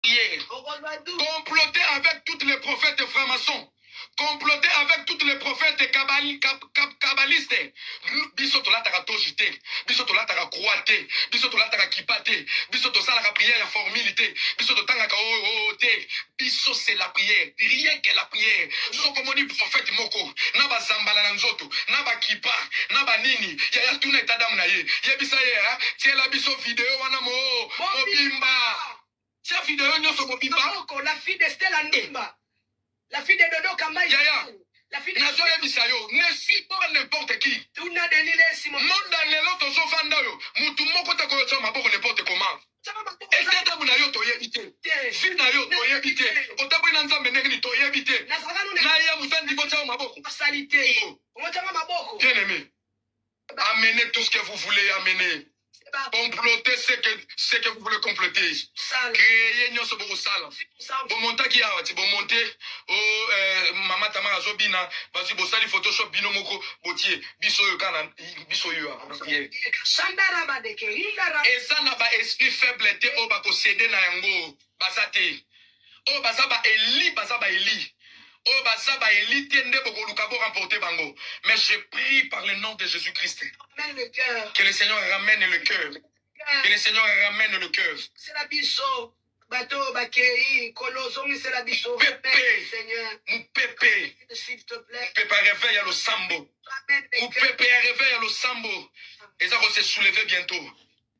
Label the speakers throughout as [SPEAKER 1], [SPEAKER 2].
[SPEAKER 1] comploter avec toutes les prophètes francs-maçons comploter avec toutes les prophètes kabali, kab, kab, kabalistes biso tolataka tozi te biso tolataka croix te biso tolataka kipa te biso tosalaka prière ya formule te biso totangaka oo oh, oh, oh, te biso c'est la prière rien que la prière soko omoni prophète moko na bazambala na nzoto na bakipa na banini yaya tuna etadamu na ye yebisa ye tiela biso video wana mo mobimba Tia video nyoso kobima. Kitoko, la fille de Stella
[SPEAKER 2] Ndimba. La fille de Dodo Kambayi. Yaya. La fille de Nazo yebisa yo, ne
[SPEAKER 1] suis pas n'importe qui. Tuna Denis Lessi
[SPEAKER 2] mon. Monda lelo tozo
[SPEAKER 1] fanda yo, mutu moko te koyo tsama boko n'importe comment. Ekatabu na yo toyebi te. Vie na yo toyebi te. Otaboli na Nzambe ndenge ni toyebi te. Na ya mutandi ko tsama maboko. Salite.
[SPEAKER 2] Ngo tsama maboko. Bien aimé.
[SPEAKER 1] Amenez tout ce que vous voulez amener. Comploter ce que, ce que vous voulez comploter. Créer nyoso bokosala. Bomontaki awa ti bomonte o eh, mama Tamara azobina basi bosali photoshop bino moko botie biso oyo kana biso yo
[SPEAKER 2] eza na ba esprit
[SPEAKER 1] faible te oyo bakosede na yango. baza te oyo baza ba eli baza ba eli oyo baza ba eli te nde bokoluka bo remporte bango mais je prie par le nom de jésus christ que le seigneur ramène le cœur que le seigneur ramène le cœur sela biso
[SPEAKER 2] bato oyo bakei nkolo ozongisela biso
[SPEAKER 1] mopepe
[SPEAKER 2] mopepe ya reveil ya losambo
[SPEAKER 1] mopepe ya reveil ya losambo eza kose souleve bientôt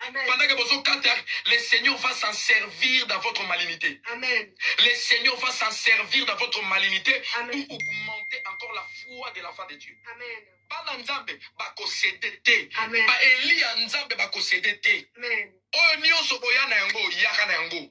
[SPEAKER 1] Amen. Pendant que vous quatre, hein, le Seigneur va s'en servir dans votre malignité. Amen. Le
[SPEAKER 2] Seigneur va
[SPEAKER 1] s'en servir dans votre malignité Amen. pour augmenter encore la foi de l'enfant de Dieu. Amen. bana
[SPEAKER 2] nzambe
[SPEAKER 1] bakosede te baeli ya
[SPEAKER 2] nzambe
[SPEAKER 1] bakosede te oyo
[SPEAKER 2] nyonso boya
[SPEAKER 1] na yango yaka na yango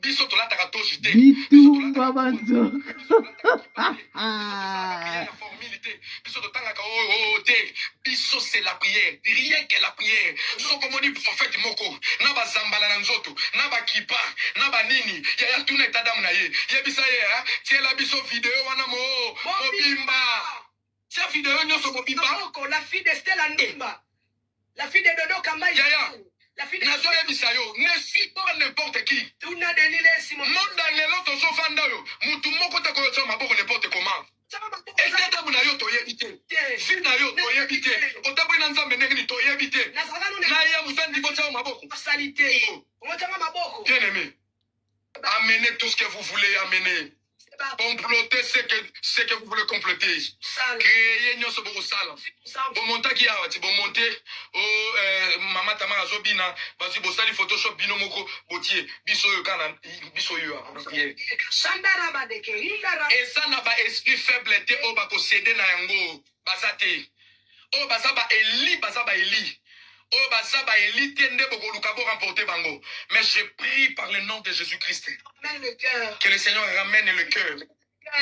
[SPEAKER 1] biso tolataka tozi te bitumba
[SPEAKER 3] banzoka formule te
[SPEAKER 1] biso totangaka oo oh, oh, te biso se la prière rien que la prière soko omoni prophète moko na bazambala na nzoto na bakipa na banini yaya tuna etadamu na ye yebisa ye tiela biso video wana mo mobimba Tia video nyoso bobiba. Kitoko, la fille de Stella
[SPEAKER 2] Ndumba. La fille de Dodo Kambayi. Yaya. La fille de nazoyebisa yo ne
[SPEAKER 1] suis pas n'importe qui tuna denilesi
[SPEAKER 2] monda lelo
[SPEAKER 1] tozofanda oyo motu moko te koyotya maboko n'importe comment ete ntango na yo toyebi te vi na yo toyebi te otaboli na nzambe ndenge nini toyebi te na ye mozandi kotya yo
[SPEAKER 2] maboko bien aimé
[SPEAKER 1] Amenez tout ce que vous voulez amener. Comploter ce que, ce que vous voulez comploter. Créer nyonso bokosala. Bomontaki awa ti bomonte o oh, eh, mama Tamara azobina bazwi bosali photoshop bino moko botie biso oyo kana biso oyo
[SPEAKER 2] eza na ba esprit
[SPEAKER 1] faible te oyo bakosede na yango. baza te oyo baza ba eli baza ba eli oyo baza ba eli te nde bokoluka bo remporte bango mais je prie par le nom de jésus christ Ramène le cœur.
[SPEAKER 2] que le seigneur ramène
[SPEAKER 1] le cœur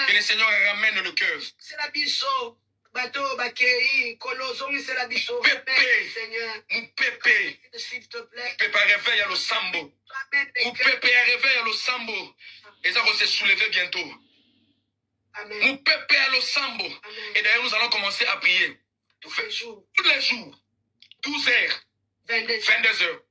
[SPEAKER 1] que le seigneur ramène le cœur Zongisela biso
[SPEAKER 2] bato oyo bakei kolo zongisela biso Pepe. Ramène, Seigneur
[SPEAKER 1] mopepe s'il te plaît
[SPEAKER 2] pepe ya reveil ya losambo
[SPEAKER 1] Ramène le cœur. mopepe ya reveil ya losambo eza kose souleve bientôt
[SPEAKER 2] Mupepe ya
[SPEAKER 1] losambo. Et d'ailleurs, nous allons commencer à prier. Tous
[SPEAKER 2] les jours.
[SPEAKER 1] Tous les jours. 12 heures. 22, 22 heures.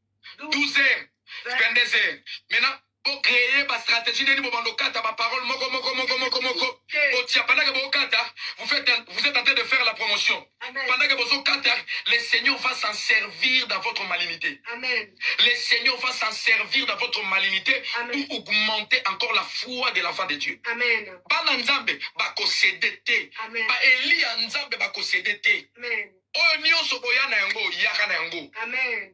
[SPEAKER 1] 12 heures. 22 heures. Maintenant, pour créer ma stratégie nini bobanda okata ma parole moko moko moko moko moko otiapanaka bokata vous faites vous êtes en train de faire la promotion Amen. Pendant que bozo kata, le Seigneur va s'en servir dans votre malignité. Amen. Le
[SPEAKER 2] Seigneur va
[SPEAKER 1] s'en servir dans votre malignité Amen. pour augmenter encore la foi de l'enfant de Dieu. Amen. Bana Nzambe bakosede te. Amen. Ba Elia Nzambe bakosede te. Amen. Oyo nyonso boya na yango, yaka na yango.
[SPEAKER 2] Amen.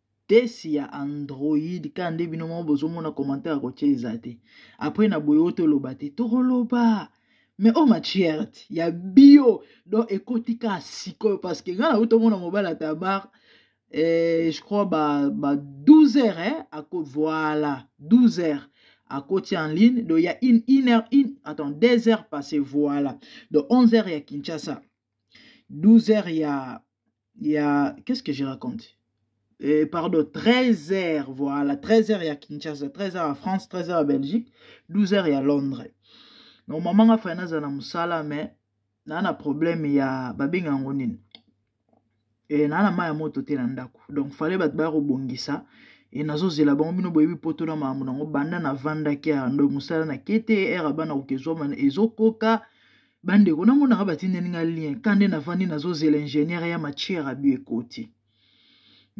[SPEAKER 3] tesi ya android kaka nde bino moko bozomona commentaire ya kotia eza te apres na boye oyo toloba te tokoloba mais oyo oh, matierte ya bio donc ekoti kaka sikoyo parce que ngai nauti omona mobali ya tabar eh, je crois ba, ba 12 heures eh, ako voilà 12 heures akoti en ligne donc ya une, une heure une, attends 2 heures passé voilà donc 11 heures ya kinshasa 12 heures ya ya qu'est-ce que je raconte euh, pardon 13 heures voilà 13 heures ya kinshasa 13 heures ya france 13 heures ya belgique 12 heures ya londres donc mama nga fai nazala na mosala mais naa na problème ya babenga yango nini e, naa na mai ya moto te na ndako donc fale bato baya kobongisa e nazozela bango bino boyebi poto na makambo nango banda navandaki ya ndo mosala na kete ere bana koka ezwama ezokoka bandeko namonaka batindeli nga lien ka nde navandi nazozela ingénieur ya matière abi ekoti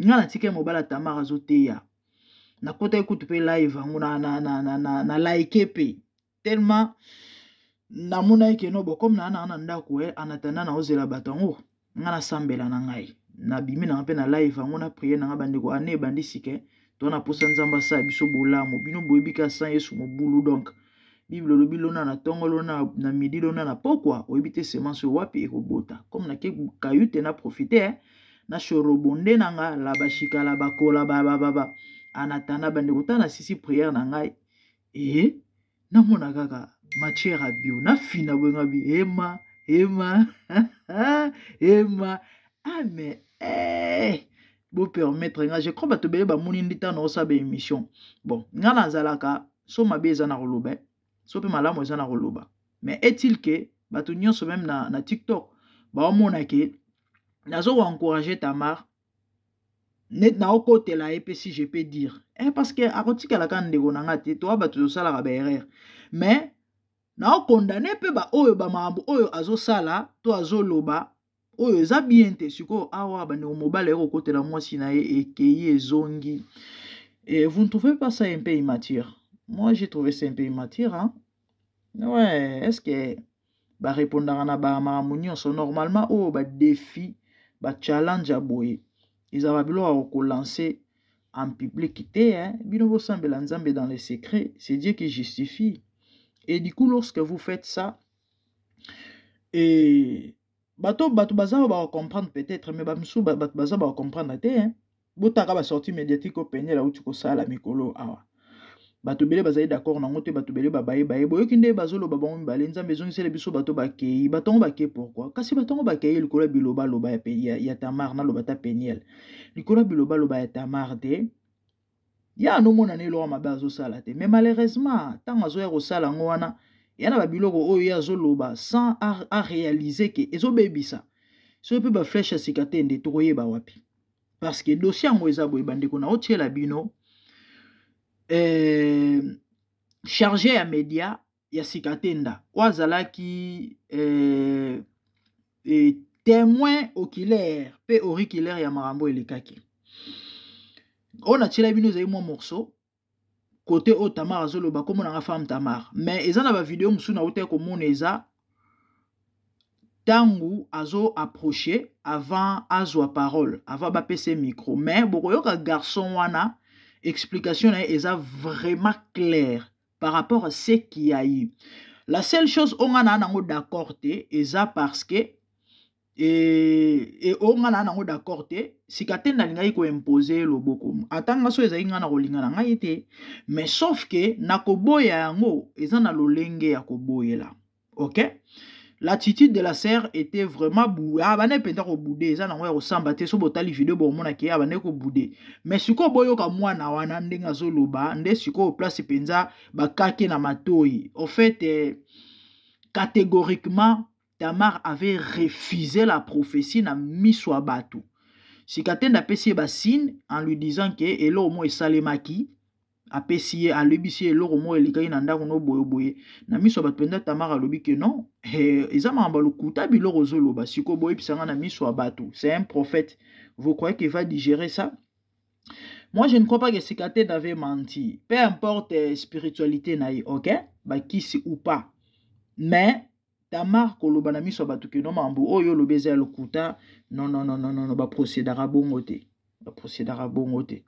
[SPEAKER 3] nga natika ye mobala tamar azoteya nakotaki kutu mpe live yango na, na, na, na, na, na like mpe tellement namonaki keno bokomi naa naa na ndako e eh, anatanda naozela bato yango nga nasambela na ngai nabimi nanga mpe na live yango na priere nanga bandeko ane ah, ebandi sike to na mposa nzambe asala biso bolamu bino boyebi ka san yesu mobulu donk bible olobi lona na ntongo lona na midi lona na pokwa oyebi te semence oyo wapi ekobota comme nake kayute na profite eh? na shorobonde na nga labashikala bakola babababa anatanda bandeko ta na sisi priere na ngai ee eh? namona kaka matière ya bio nafina boye nga bi ema ema ema ah mais eh. bopermettre nga je crois bato ebele bamoni ndi ntango naosala ba émission bon nga nazalaka so mabe eza na koloba eh. so mpe malamu eza na koloba mais est-il que bato nyonso meme na, na tiktok baomona ke nazokoencourage tamar neti naokotela ye mpe si je peux dire eh, parce que akotikala kaka ndeko na ngai te toa bato tosalaka baerreur mais naokondane mpe baoyo bamakambo oyo azosala to azoloba oyo eza bien te sikoyo awa bandeko mobali aye kokotela mwasi na ye ekei ezongi Et vous ne trouvez pas ça un peu immature Moi, j'ai trouvé ça un peu immature. Hein? Ouais, est-ce que barepondaka na bamakambo nyonso normalement oyo badefi bachallenge ya boye ezalaka biloko ya kokolanse en public te hein? bino bosambela nzambe dans le secret c'est dieu qui justifie et du coup lorsque vous faites ça et bato bato baza oyo bakocomprendre peut-être mais bamisusu bato baza bakocomprendre te hein? botaka ba sortie médiatique oyo peniel auti kosala mikolo awa bato ebele bazali d'accord nango te bato ebele babaye baye boyoki nde bazoloba bango mibale nzambe ezongisele biso bato bakei bato yango bakei pourkui kasi bato yango bakei likolo ya bilobaloba ya, ya, ya tamar naloba ta peniel likolo ya bilobaloba ya tamar te ye anomona na eloko mabe azosala te mais malheureusement ntango azoya kosala yango wana ya na babiloko oyo ye azoloba sans arealize ke ezobebisa soki mpe bafleshe ya sika te nde tokoyeba wapi parce que dossier yango eza boye bandeko na otyela bino eh, charge ya media ya sika tenda oyo azalaki eh, eh, témoin oculaire mpe auriculaire ya makambo elekaki oyo natyela bino ezali mwa morceau kote oyo tamar azoloba kombo na nga femme tamar mais eza na bavideo mosusu nautaki komona eza ntango azo approche avant azwa parole avant bapesa micro mais bokoyoka garçon wana explication na ye eza vraiment claire par rapport à ce qui a eu la seule chose oyo nga naa nango d'accord te eza parce que e, e o nga na nango d'accord te sika te nalingaki koimpose ye loboko ata nga so ezalaki ngai na kolinga na ngai te mais sauf ke na koboya yango eza na lolenge ya koboyela ok l'attitude de la sœur était vraiment boue ah, abandaki mpenza kobude eza nango ya kosamba te so botali video bokomona ke abandaki kobude mais sikoyo boyoka mwana wana ndenge azoloba nde sikoyo place mpenza bakake na matoi au fait eh, catégoriquement Tamar avait refusé la prophétie na miso ya bato sika te ndapesi ye basine en lui disant ke eloko moko esalemaki apesi ye alobisi ye eloko moko elekaki na ndako no boyeboye na miso ya bato mpenza tamara alobi ke non eh, eza makambo ya lokuta biloko ozoloba sikoyo boyebisa ngai na miso ya bato c'est un prophète vous croyez qu'il va digérer ça moi je ne crois pas que sikate n'avait menti peu importe eh, spiritualité na ye ok bakisi ou pas mais tamar koloba na miso ya bato kino mambo oyo oh, olobi eza ya lokuta nonnnnn baprocedaka bongo te baprocedaka bongo te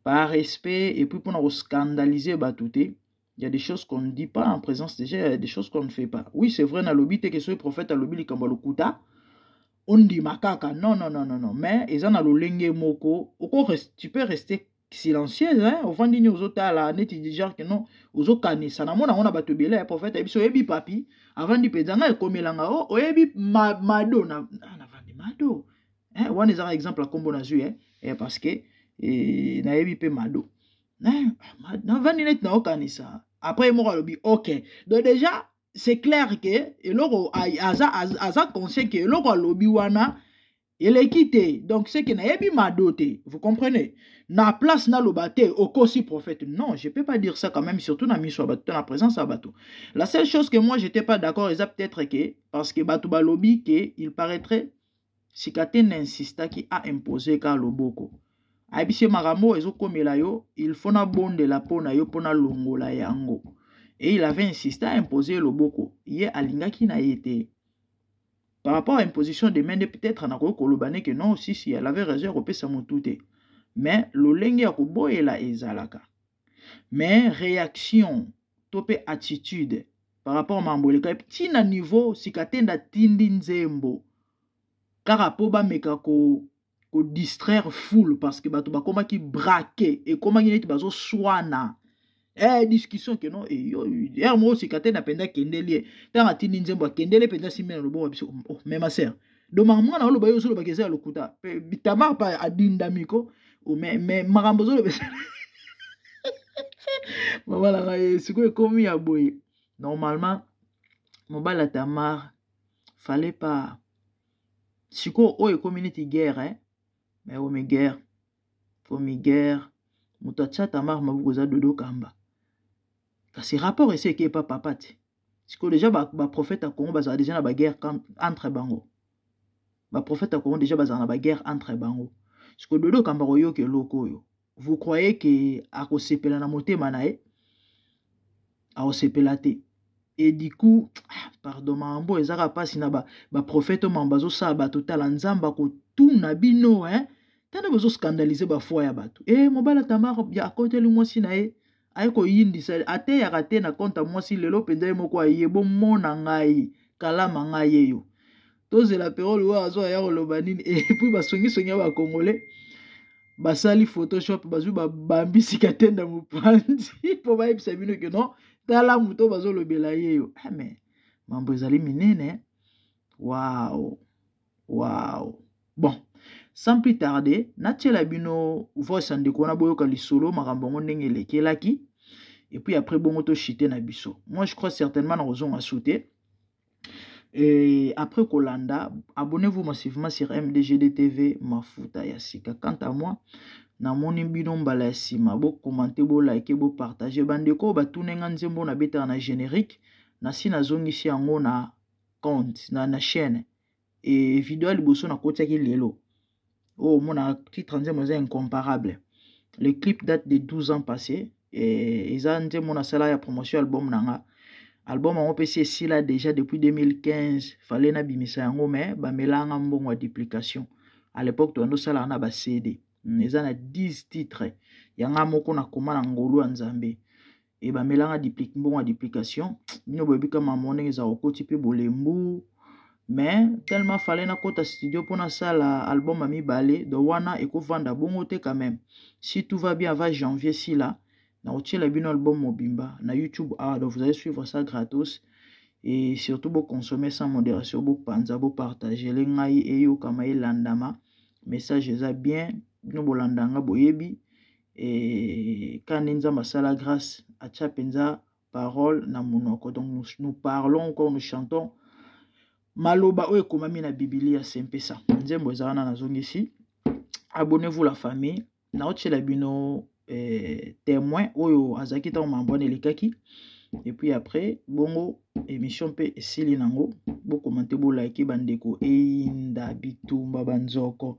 [SPEAKER 3] par respect epuis mpona koscandalize bato te Il y a des choses qu'on ne dit pas en présence des gens, il y a des choses qu'on ne fait pas. Oui, c'est vrai, na lobi te que ce prophète a lobi likambo lokuta. On dit makaka. Non, non, non, non, non. Mais, ils en a le moko. Tu peux rester silencieuse hein ovandi nini ozotala neti genre que non ozokanisa namona yango na bato ebele ya prophète ayebi so oyebi papi avandi mpenza ngai ekomelanga o oh, oyebi ma, mado na, ah, navandi mado eh, wana ezaka exemple ya nkombo nazwi eh, eh, parce que eh, nayebi mpe mado eh, navandi neti naokanisa après ye moko alobi ok donc déjà c'est clair ke eloko aza, aza, aza conscient ke eloko alobi wana eleki te donc seke nayebi mado te vous comprenez na place naloba te okosi prophète non je peux pas dire ça quand même surtout na miso ya bato to na présence ya bato la seule chose que moi j'étais pas d'accord eza peut-être que parce que bato balobi que il paraîtrait sikatene insistaki a impose ka loboko ayebisi ye makambo oyo ezokomela yo il faut nabondela mpo na yo mpo nalongola yango et il avait insiste a impose loboko ye alingaki na ye te par rapport à imposition de main nde peut-être nakoki koloba ne ke non sisi elle avait raison ya kopesa motu te mais lolenge ya koboyela ezalaka mais réaction to mpe attitude par rapport mambo eleka ti na niveau sikatenda atindi nzembo kaka mpo bameka ko ko distraire foule parce que bato bakomaki braquer ekomaki neti bazoswana eh, discussion ke no eh, yo ere moko osika te na mpenza akendeli ye ntango atindi nzembo akendeli mpenza simbi na loboko ya biso oh, me ma sere doma mwana oloba yo ozolobaka eza ya lokuta tamar pa adindami ko oh, me, me makambo ozoloba eza mama na ngai eh, sikoyo ekomi ya boye normalement mobali ya tamar fallait pas sikoyo oyo ekomi neti guerre eh? mais omi guerre omi guerre moto atya tamar mabuku eza dodo kamba kasi rapport esi eke epa papa te sikoyo deja baprofete ba ya congo bazala deja na baguerre entre bango baprofete ya congo deja bazala na baguerre entre bango sikoyo dodo kamba koyoka eloko oyo vous croyez ke akosepela na motema na ye akosepela te et du coup ah, pardon mambo ezaka mpasi na baprofete ba mama bazosala bato tala nzambe akotuna bino hein tanda bozoscandalize bafoi ya bato e eh, mobala tamara akoteli mwasi na ye aye koyindisa ateyaka te na konta mwasi lelo mpenza ye moko aye bomona ngai kalama ngai yeyo tozela perole oyo azwa ya koloba nini epui basongisongi ya bakongole basali photoshop bazwi babambisi katenda mopanzi mpo bayebisa bino ke non tala moto bazolobela yeyo ame ah, mambo ezali minene wao wow. Wow. Bon, sans plus tarder, natiela bino voice ya ndeko wana boyoka lisolo makambo yango ndenge elekelaki et puis après bongo to chite na biso. Moi je crois certainement na kozonga sauter. Et après Kolanda, abonnez-vous massivement sur MDGD TV Mafuta ya sika. Quant à moi, namoni bino mbala ya nsima bokomante bolike bopartage bandeko oyo batuni nga nzembo na betaka na générique nasi nazongisi yango na compte na, na chaîne e video ya liboso nakotiaki lelo oyo omona titre nzembo eza incomparable le clip date de 12 ans passé e, eza nzembo nasala ya promotion album na nga album yango mpe si esila déjà depuis 2015 fale nabimisa yango mais bamelanga mbongo ya duplication à l'époque toyando osalaka na bacd hmm, eza na 10 titre yanga moko nakoma na ngolu ya nzambe e bamelanga diplik mbongo ya duplication bino boyebi ka mamo ndenge eza kokoti mpe bolembu mais tellement fale nakɔta studio mpo nasala album ya mibale do wana ekovanda bongo te quand même si tout va bien avant janvier sila nakotiela bino album mobimba na youtube awa ah, donc vous allez suivre ça gratos et surtout boconsommer sans modération bopanza bopartagele ngai eyokama elandama message eza bien bino bolanda nga boyebi et quand nous masala grâce à penza parole na monoko donc nous, nous parlons quand nous chantons maloba oyo ekomami na bibilia se mpe sa nzembo eza wana nazongisi abonnez-vous la famille naotyela bino eh, témoin oyo azalaki ntango mambo wana elekaki epuis après bongo emission mpe esili nango bokomante bolike bandeko eyinda bitumba banzoko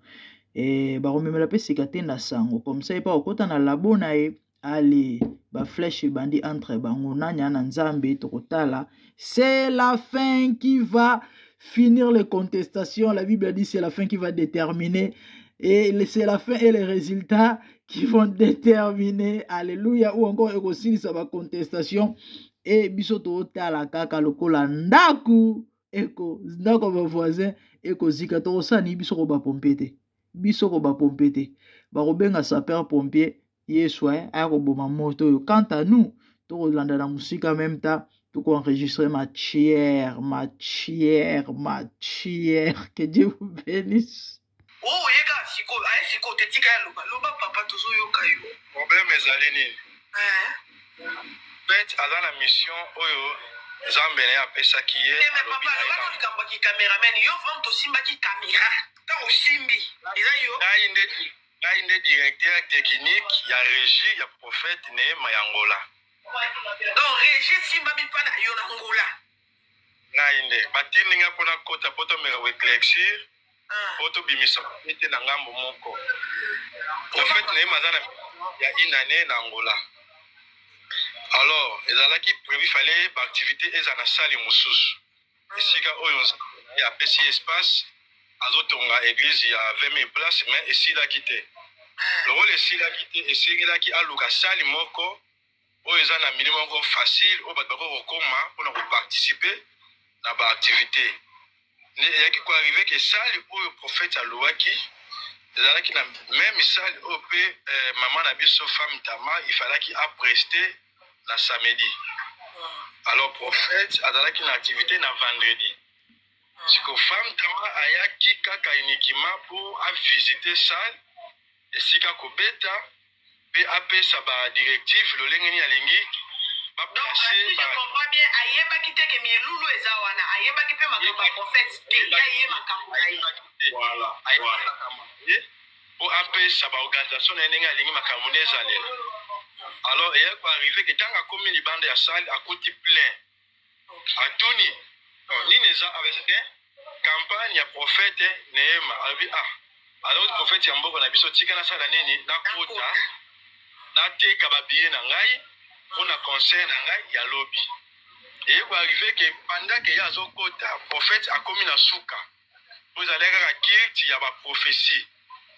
[SPEAKER 3] e, bakomemela mpe sika te na sango comme ça epa okota na labo na ye ale baflèche ebandi entre bango nani ana nzambe tokotala c'est la fin qui va finir les contestations la bible a dit c'est la fin qui va déterminer et c'est la fin et les résultats qui vont déterminer alléluia ou encore ekosilisa bacontestation e biso totala kaka lokola ndako eko ndako ya bavoisin ekozika tokosala nini biso ko bapompe te biso ko bapompe te bakobenga sapeur pompier ye soin aya koboma moto oyo quant à nous tokolanda na mosika meme temps tokoenregistre matière matière matière que dieu vous bénisse Oh, oye kaka
[SPEAKER 2] sikoyo aye sikoyo te tika ya loba loba papa tozoyoka yo problème ezali
[SPEAKER 1] nini eh. pete aza na mission oyo nzambe na ye apesaki ye eh, papa alobaka
[SPEAKER 2] likambo ya kicameraman yo vraimt osimbaki camera ntango osimbi eza yo ngai nde ngai
[SPEAKER 1] nde directeur technique ya régie ya prophète neema ya ngola donc
[SPEAKER 2] régie esimbami mpa na yo na ngola ngai
[SPEAKER 1] nde batindi ngai mpo nakota mpo tomeka koeclexure mpo ah. tobimisa ete na ngambo moko profete na ye maza na ya inane na angola alors ezalaki prévu fale baactivité eza na sale mosusu ah. esika oyo apesi espace azotonga église ya 20 000 place mais esilaki te ah. lokola esilaki te esengelaki aluka sale moko oyo eza na milieu moko facile oyo bato bakoki kokoma mpona koparticipe na baactivité nde eyaki koarrive ke sale oyo prophète alouaki ezalaki na meme sale oyo mpe eh, mama na biso femme tama ifalaki apreste na samedi alors prophète azalaki na activité na vendredi siko femme tama ayaki kaka uniquement mpo avisite sale esika kobeta pe apesa ba directive lolenge nini alingi comprend bien
[SPEAKER 2] ayebaki te ke milulu eza wana ayebaki mpe makambo ya prophète te ya ye
[SPEAKER 1] makambo na ye mpo apesa baorganisation na ye ndenge alingi makambo nde ezalela alors eyaki koarrive ke ntango akomi libanda ya sale akuti plein atuni oh, nini eza abese te campagne ya prophète neema alobi ah aloti prophète ya mboka na biso tika nasala nini nakota nateka babiye na ngai mpo na concert na ngai ya lobi eye koarrive ke pendant ke ye azokota prophète akomi na suka oyo ezalaki kaka culte ya baprophetie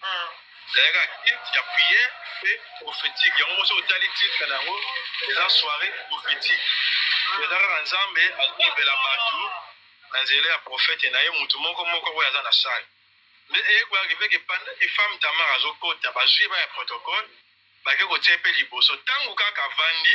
[SPEAKER 1] hmm. ezalaki kaka culte ya prière mpe prophétique yango mosi otali titre na yango eza soirée prophétique hmm. eza kaka nzambe alobela bato na nzela ya prophète na ye moto moko moko oyo aza na sale nde eyekolaki mpe ke panda ke femme tamar azokota bazwi ye baya protocole bake kotia mpe liboso ntango kaka avandi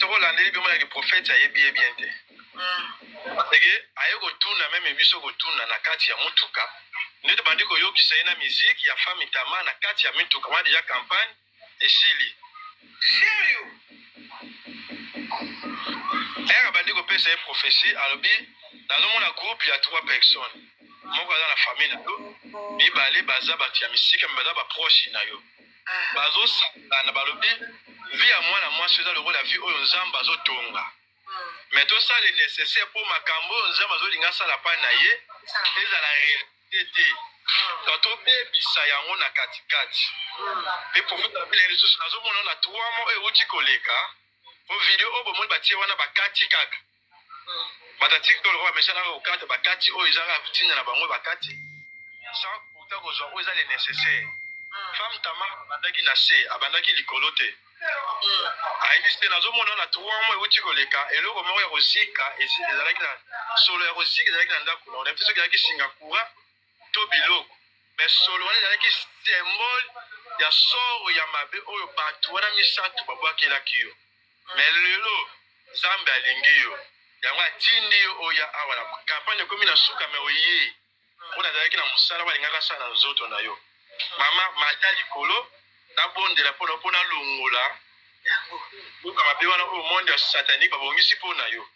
[SPEAKER 2] soki olandeli bima ya kiprofete ayebi ye bien te parceke hmm. aye kotuna meme biso kotuna na kati ya motuka nde tobandi koyokisa ye na miziki ya fami tama na kati ya mituka wana deja campagne esili serio
[SPEAKER 1] ere abandi kopesa ye profesi alobi nazomona groupe ya trois personnes moko aza na famille na yo mibale baza bato ya misika me baza baproche na yo bazosangana balobi vi ya mwana mwasi eza lokola vi oyo nzambe azotonga me tosala nécessaire mpo makambo oyo nzambe azolinga asala pai na ye ezala réalité te to tobebisa yango na katikati mpe profetabila lisusu nazomona na trois mois oyo euti koleka mpo video oyo bomoni batie wana bakati kaka bato ya tiktok lokola bamesha kaka kokata bakati oyo eza kaka kotinda na bango bakati sans kuta kozwa oyo eza le nécessaire hmm. femme tama abandaki na se abandaki likolo te hmm. ayebisi te nazomona na trois mois euti koleka eloko moko ya kozika ezalaki na solo ya kozika ezalaki na ndako na onayebi te soki ezalaki singa courant to biloko me solo wana ezalaki symbole ya soro ya mabe oyo bato wana misato babwakelaki yo me lelo nzambe alingi yo yango atindi yo oya awa na kampane ekomi na suka me oye mpo nazalaki na mosala balingaka sala na nzoto na yo mama mata likolo nabondela mpo na mpo nalongola buka mabe wana oyo monde ya satanike babongisi mpo na yo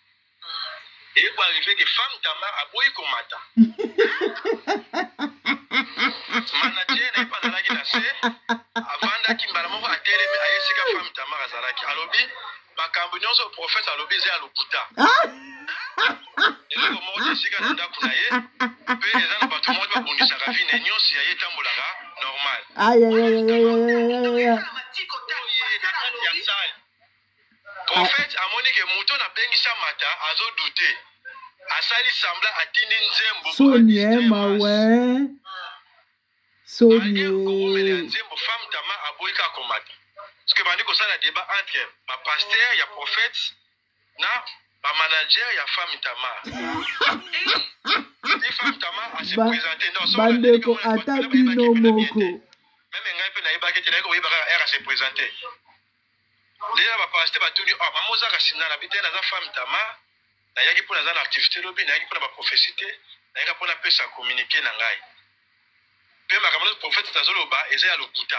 [SPEAKER 1] eko arrive ke femme tamar aboyi komata manaje na ye mpe azalaki na se avandaki mbala moko atelemi aye esika femme tamar azalaki alobi makambo nyonso profese alobi eza ya lokuta ah! eloko moko te esika na ndako na ye mpe eza na bato moko babundisaka vi na nyonso ya ye
[SPEAKER 3] etambolaka normal
[SPEAKER 1] Prophète amoni ke moto na bengi Shamata azo douter. Asali semblant atindi nzembo. Soni eh mawe.
[SPEAKER 3] Soni. Koumele ya
[SPEAKER 1] nzembo femme tama aboyi ka komata. Parce que bandi kosala débat entre ba pasteur ya prophète na ba manager ya femme tama. Ni femme tama a se présenter dans son bandeko ata
[SPEAKER 3] bino moko. Meme ngai pe
[SPEAKER 1] nayebaki te nayebaka RAC se présenter. ndenge na bapaste batuni ah, mama oza kasi nga na bitene naza femme tama nayaki mpo naza na activité lobi nayaki mpo na baprofesi te nayaka mpo napesa communiqué na ngai mpe makambo nyonso profete azoloba eza ya lokuta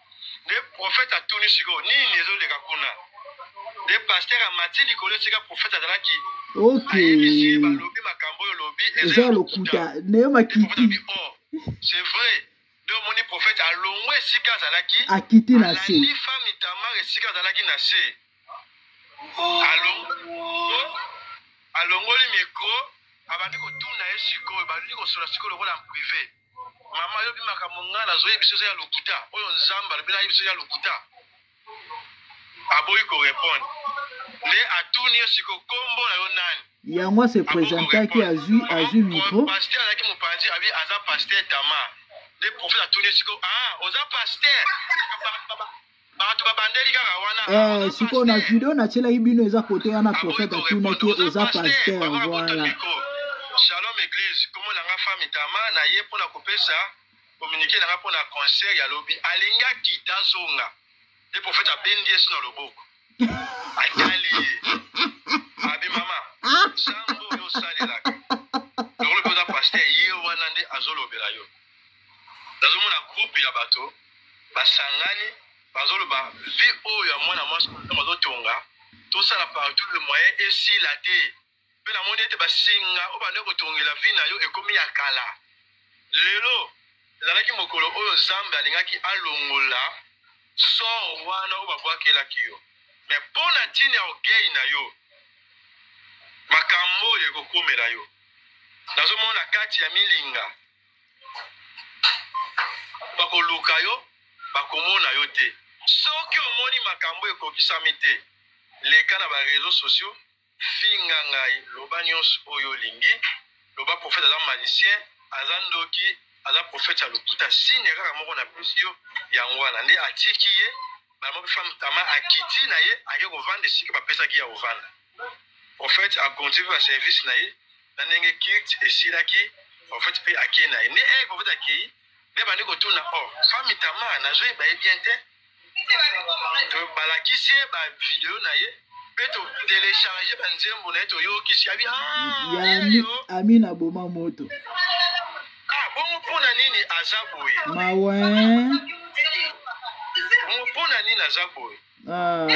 [SPEAKER 1] nde profete atuni sikoyo nini ezoleka kuna nde paster amati likolo esika profete azalaki ayebisi ye
[SPEAKER 3] balobi makambo
[SPEAKER 1] oyo olobi eza lokuta
[SPEAKER 3] nayo makiti oh, c'est
[SPEAKER 1] vrai nde omoni profete alongwe esika azalaki akiti na se
[SPEAKER 3] femme itamar
[SPEAKER 1] esika azalaki na se alongoli mikro abandi kotuna ye sikoyo bandi kosola sikoyo lokola prive mama yobi makambo ngai nazoyebi soso ya lokuta oyo nzambe alobi nayebi soso ya lokuta aboyi korepondre nde atuni yo siko kombo na yo nani yango ase
[SPEAKER 3] presentaki azwi azwi micro paster azalaki mopanzi
[SPEAKER 1] abi aza paster tama nde profete atuni yo siko ah oza paster bato babandeli kaka wana eh, sikoyo na video
[SPEAKER 3] natyelaki bino eza kote wana profete atunaki oza paster voilà shalom
[SPEAKER 1] église komo na nga fami tama na ye mpo na kopesa kominike na nga mpo na concert ya lobi alingaki tazonga nde profete abendi yesu na loboko atali ye abi mama nsango oyo osalelaka lokolo mpe oza paster ye wana nde azolobela yo nazomona groupe ya bato basangani bazoloba vie oyo ya mwana mwasi bazotonga tosala partout le moyen esila te mpe namoni ete basinga oyo bande kotongela vie na yo ekomi ya kala lelo ezalaki mokolo oyo nzambe alingaki alongola sor wana oyo babwakelaki yo me mpo na ntina ya ogei na yo makambo oyo ekokomela yo nazomona kati ya milinga bakoluka yo bakomona yo te soki omoni makambo ekokisami te leka na bareseau sociaux finga ngai loba nyonso oyo olingi loba profete aza malicien aza ndoki aza profete ya lokuta signe kaka moko na pesi yo yango wana nde atiki ye bamopefamtama akiti na ye ake kovanda esika bapesaki ya kovanda en fait a continue ba service na ye na ndenge kilt esilaki en fait mpe akei na ye nde eke en fait akei nde bandi kotuna o oh, fami tama nazoyeba ye bien te balakisi ye bavideo na ye mpe totelecharge banzembo na ye toyokisi abi ah,
[SPEAKER 3] ami na boma moto
[SPEAKER 1] ah, bongo mpo na nini aza boye mawa bongo mpo na nini aza boye Ah.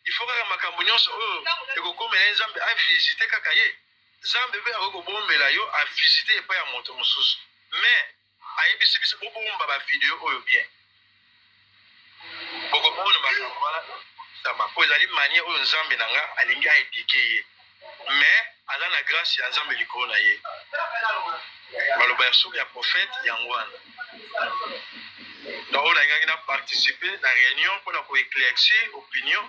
[SPEAKER 1] il faut kaka makambo nyonso oyo ekokomela ye nzambe avisite kaka ye nzambe mpe akoki kobombela yo avisite epai ya moto mosusu mais ayebisi biso bobomba bavideo oyo bien bokomona makambo wana mpo ezali manie oyo nzambe na nga alingi aedike ye mais aza na grâce ya nzambe likolo na ye maloba ya soki ya prophète yango wana donc oyo nalingaki na participe na réunion mpona koéclaircir opinion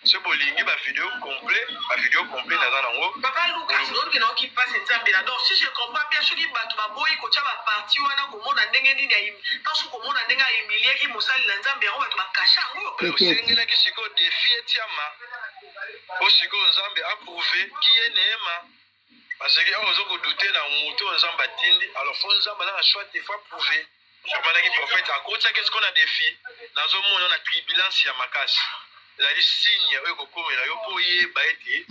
[SPEAKER 1] se bolingi bavideo complet bavideo complet naza nango papa lukas oyoki
[SPEAKER 2] nayoki mpasi nzambe na donc si je comprends bien soki bato baboyi kotya baparti wana komona ndenge nini ntanso komona ndenge ahumiliaki mosali na nzambe yango bato bakasha yango osengelaki sikoyo
[SPEAKER 1] defi etiama po sikoyo nzambe aprouve kiye neema parce que awa ozokodute na moto oyo nzambe atindi alors fo nzambe aza na choix te fo aprouve abandaki prophète akotisaki esiko na défi nazomona na tribulance ya makasi ezali signe oyo ekokomela yo mpo oyeba ete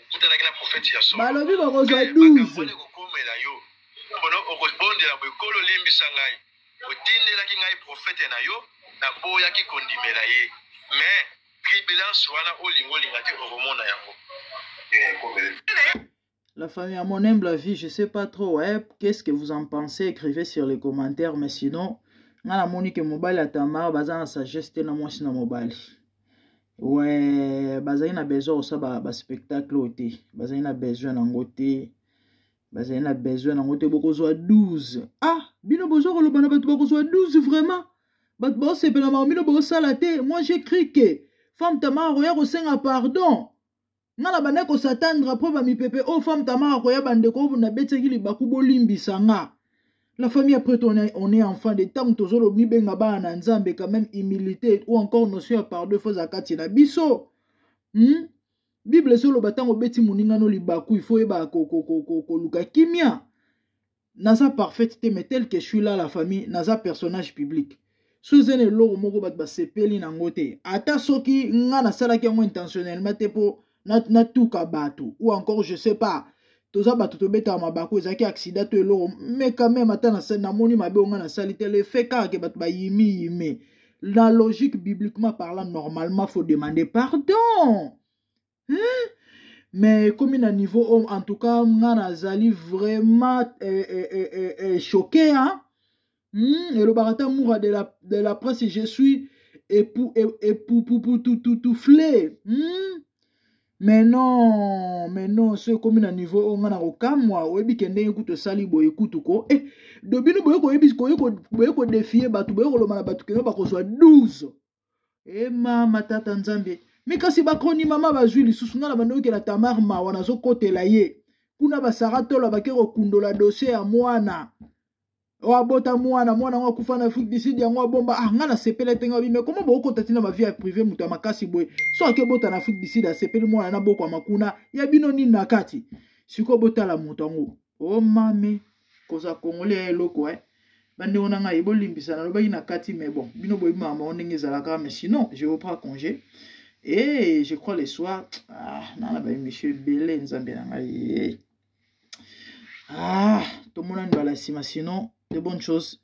[SPEAKER 1] okutanaki na prophète ya solo balobi bokozwa 12
[SPEAKER 3] ekokomela yo
[SPEAKER 1] mpono okobondela boekolo olimbisa ngai otindelaki ngai prophète na yo naboyaki kondimela ye mais Tribulance wana olingo olinga te okomona yango.
[SPEAKER 3] Eh, La famille, à mon humble avis, je sais pas trop, ouais, qu'est-ce que vous en pensez, écrivez sur les commentaires, mais sinon, nga na moni ke mobali ya tamara baza na sagesse te na mwasi na mobali we bazali na besoin kosala baspectacle oyo te bazali na besoin nango te bazali na besoin nango te bokozwa 12 ah bino boza koloba na bato bakozwa 12 vraiment bato baosepela mako bino bosala te moi je cri ke femme tamara akoya kosenga pardon nga na bandaki kosatandre apres bamipepe oyo oh, femme tamara akoya bandeko oyo nabetaki libaku bolimbisa nga la famille après on est, on est enfant de ntango tozolo mibenga bana na nzambe quand même humilité ou encore notion ya pardon efoza kati na biso hmm? bible ezoloba ntango obeti moninga no libaku ifo oyeba koluka kimia naza parfaite te mais tel que suis là la famille naza personnage public so eza na eloko moko bato basepeli na yango te ata soki nga nasalaki yango intentionnellement te mpo natuka bato ou encore je sais pas toza bato tobetaka mabaku ezalaki aksida to eloko me quand même ata namoni mabe onga nasali te le fait kaka ke bato bayimi yime na logique bibliquement parlant normalement faut demander pardon hein? mais ekomi na niveau oyo en tout cas nga nazali vraiment eh, eh, eh, eh, eh, choqué hein? hmm, elobaka ata mura de la, de la presse je suis epuputututuffle hmm? mais non mais non so ekomi na niveau oyo ngai na kokamwa oyebi ke ndenge kutu osali boye kutu ko e eh, do bino boye kodefie bato boye koloma na bato keno bakozwa 12 e mama tata nzambe mi kasi bakoni mama bazwi lisusu ngai na bandokela tamar mawa nazokotela ye kuna basara tola bake kokundola dosie ya mwana oyo abota mwana mwana yango akufa na afrique du sud yango abomba ah ngai nasepeli ete ngai bime koma bokokota ntina bavie ya prive moto ya makasi boye so ake obota na afrique du sud asepeli mwana na bokwama kuna ya bino nini na kati sikoyo botala moto yango o oh, mami kozala congolais ya eloko eh. bandeko na ngai bolimbisa nalobaki na kati mais bon bino boyebi makambo bango ndenge ezalaka mais sinon je reprends congé et je crois le soir ah, nana baemission ebele nzambe na ngai eh. ah, tomonani bala nsima sinon de bonne chose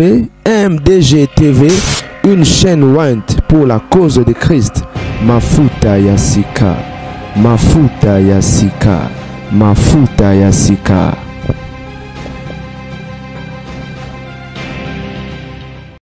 [SPEAKER 4] VMDG TV, une chaîne Went pour la cause de Christ. Mafuta Yasika, Mafuta Yasika, Mafuta Yasika.